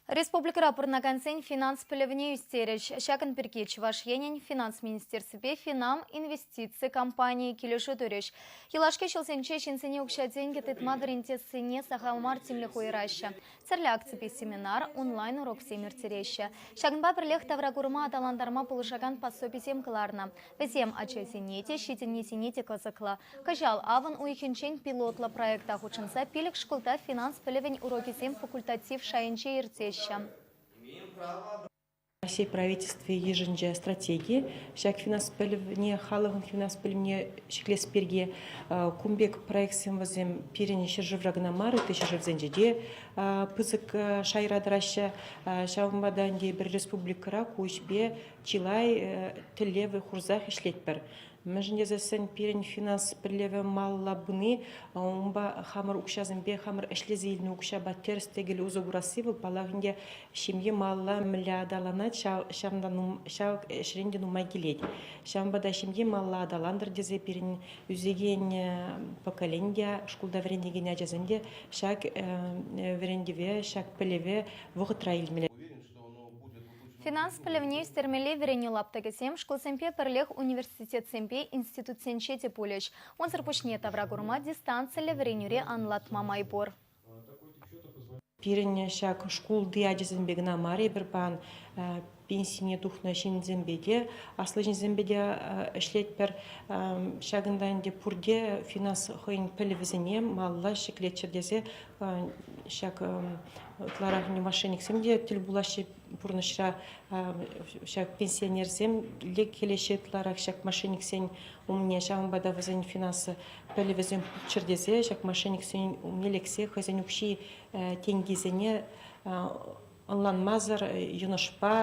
Республикӑра пурӑнакансен финанс пӗлӗвне ӳстерӗҫ. Ҫакӑн пирки Чӑваш Енӗн Финанс министерствипе Финам инвестици компанийӗ килӗшӳ турӗҫ. Юлашки ҫулсенче ҫынсене укҫа-тенкӗ тытма вӗрентессине сахал мар тимлӗх уйӑраҫҫӗ. Тӗрлӗ акципе семинар, онлайн-уроксем ирттереҫҫӗ. Ҫакӑнпа пӗрлех тавракурӑма аталантарма пулӑшакан пособисем кӑларнӑ. Вӗсем ачасене те, ҫитӗннисене те кӑсӑклӑ. Кӑҫал авӑн уйӑхӗнчен пилотлӑ проекта хутшӑнса пилӗк шкулта финанс пӗлӗвӗн урокӗсем факультатив шайӗнче иртеҫҫӗ. Раҫҫей Правительстви йышӑнчӗ стратеги ҫак финанс пӗлӗвне, халӑхӑн финанс пӗлӗвне ҫӗклес пирки. Кун пек проектсем вӗсем пирӗн ҫӗршывра кӑна мар, ытти ҫӗршывсенче те пысӑк шайра тӑраҫҫӗ. Ҫавӑнпа та ӗнтӗ пӗр республикӑра ку ӗҫпе чылай тӗллеве хурсах ӗҫлетпӗр. Мӗншӗн тесессӗн пирӗн финанс пӗлӗвӗ малалла пыни, унпа хамӑр укҫасемпе хамӑр ӗҫлесе илнӗ укҫапа тӗрӗс-тӗкел усӑ курасси вӑл, паллах ӗнтӗ, ҫемье малалла мӗнле аталанать, ҫав ҫавӑнта ҫав ӗҫрен те нумай килет. Ҫавӑнпа та ҫемье малалла аталантӑр тесе пирӗн ӳсекен поколени те, шкулта вӗренекен ачасем те ҫак вӗрентӗве, ҫак пӗлӗве вӑхӑтра илмелле. Финанс пӗлӗвне ӳстермелли вӗренӳ лаптӑкӗсем шкулсемпе пӗрлех университетсемпе институтсенче те пулӗҫ. Унсӑр пуҫне тавра курӑма дистанциллӗ вӗренӳре анлатма май пур. Пирӗн ҫак шкулти ачасемпе кӑна мар, эпир паян пенсине тухнӑ ҫынсемпе те, аслӑ ҫынсемпе те ӗҫлетпӗр. Ҫакӑнта ӗнтӗ пурте финанс хӑйӗн пӗлӗвӗсене малалла ҫӗклеччӗр тесе ҫак ытларах мошенниксем те тӗл пулаҫҫӗ пурнӑҫра ҫак пенсионерсем килеҫҫӗ ытларах ҫак мошенниксен умне ҫавӑнпа та вӗсен финансы пӗлӗвӗсем пулччӑр тесе ҫак мошенниксен умне лексе хӑйсен укҫи тенкисене ӑнланмасӑр йӑнӑшпа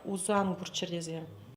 усан курччӑр тесе